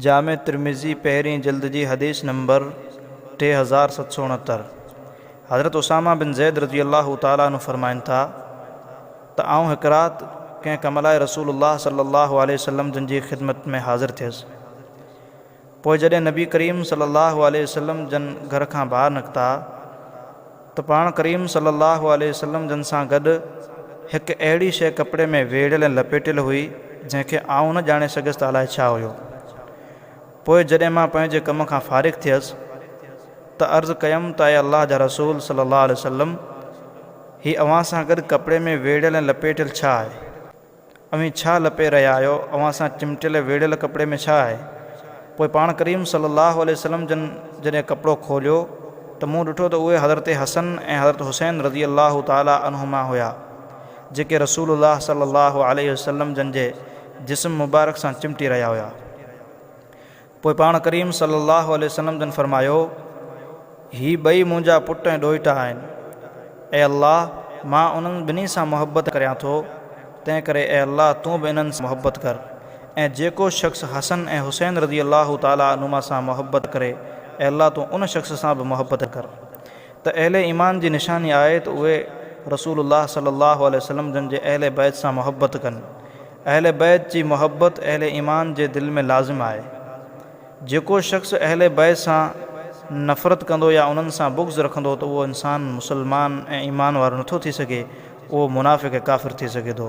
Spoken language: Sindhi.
جامع ترمذي پهرين جلد جي حديث نمبر ٽي هزار ست سؤ اڻهتر، حضرت اسامه بن زيد رضي الله تعالٰي عنه فرمائن ٿا ته آئون هڪ رات ڪنهن ڪم لاء رسول الله صلي الله عليه وسلم جن جي خدمت ۾ حاضر ٿيس پوء جڏهن نبي ڪريم صلي الله عليه وسلم جن گهر کان ٻاهر نڪتا ته پاڻ ڪريم صلّي اللّٰه عليه وسلّم جن سان گڏ هڪ اهڙي شيء ڪپڙي ۾ ويڙهيل ۽ لپيٽيل هئي، جنهن کي آئون نه ڄاڻي سگهيس ته الائي ڇا هيو. پوء جڏهن مان پنهنجي ڪم کان فارغ ٿيس ته عرض ڪيم ته اي الله جا رسول صلّي اللّٰه عليه وسلّم! هي اوهان سان گڏ ڪپڙي ۾ ويڙهيل ۽ لپيٽيل ڇا آهي؟ اوهين ڇا لپي رهيا آهيو؟ اوهان سان چمٽيل ويڙهيل ڪپڙي ۾ ڇا آهي؟ پوء پاڻ ڪريم صلي الله عليه وسلم جن جڏهن ڪپڙو کوليو ته مون ڏٺو ته اهي حضرت حسن ۽ حضرت حسين رضي الله تعالٰي عنهما هيا جيڪي رسول الله صلي الله عليه وسلم جن جي جسم مبارڪ سان چمٽي رهيا هيا. پوء پاڻ ڪريم صلّي اللّٰه عليه وسلّم جن فرمايو، هي ٻئي منهنجا پٽ ۽ ڏوهٽا آهن. اي الله! مان انهن ٻنهي سان محبّت ڪريان ٿو، تنهنڪري اي الله تون به انهن سان محبّت ڪر ۽ جيڪو شخص حسن ۽ حسين رضي الله تعالٰي عنهما سان محبّت ڪري، اي الله تون ان شخص سان به محبّت ڪر. ته اهل ايمان جي نشاني آهي ته اهي رسول الله صلّي اللّٰه عليه وسلّم جن جي اهل بيت سان محبّت ڪن. اهل بيت جي محبت اهل ايمان جي دل ۾ لازم آهي. جيڪو شخص اهل بيت سان نفرت ڪندو يا انهن سان بغض رکندو ته اهو انسان مسلمان ۽ ايمان وارو نٿو ٿي سگهي، اهو منافق ۽ ڪافر ٿي سگهي ٿو.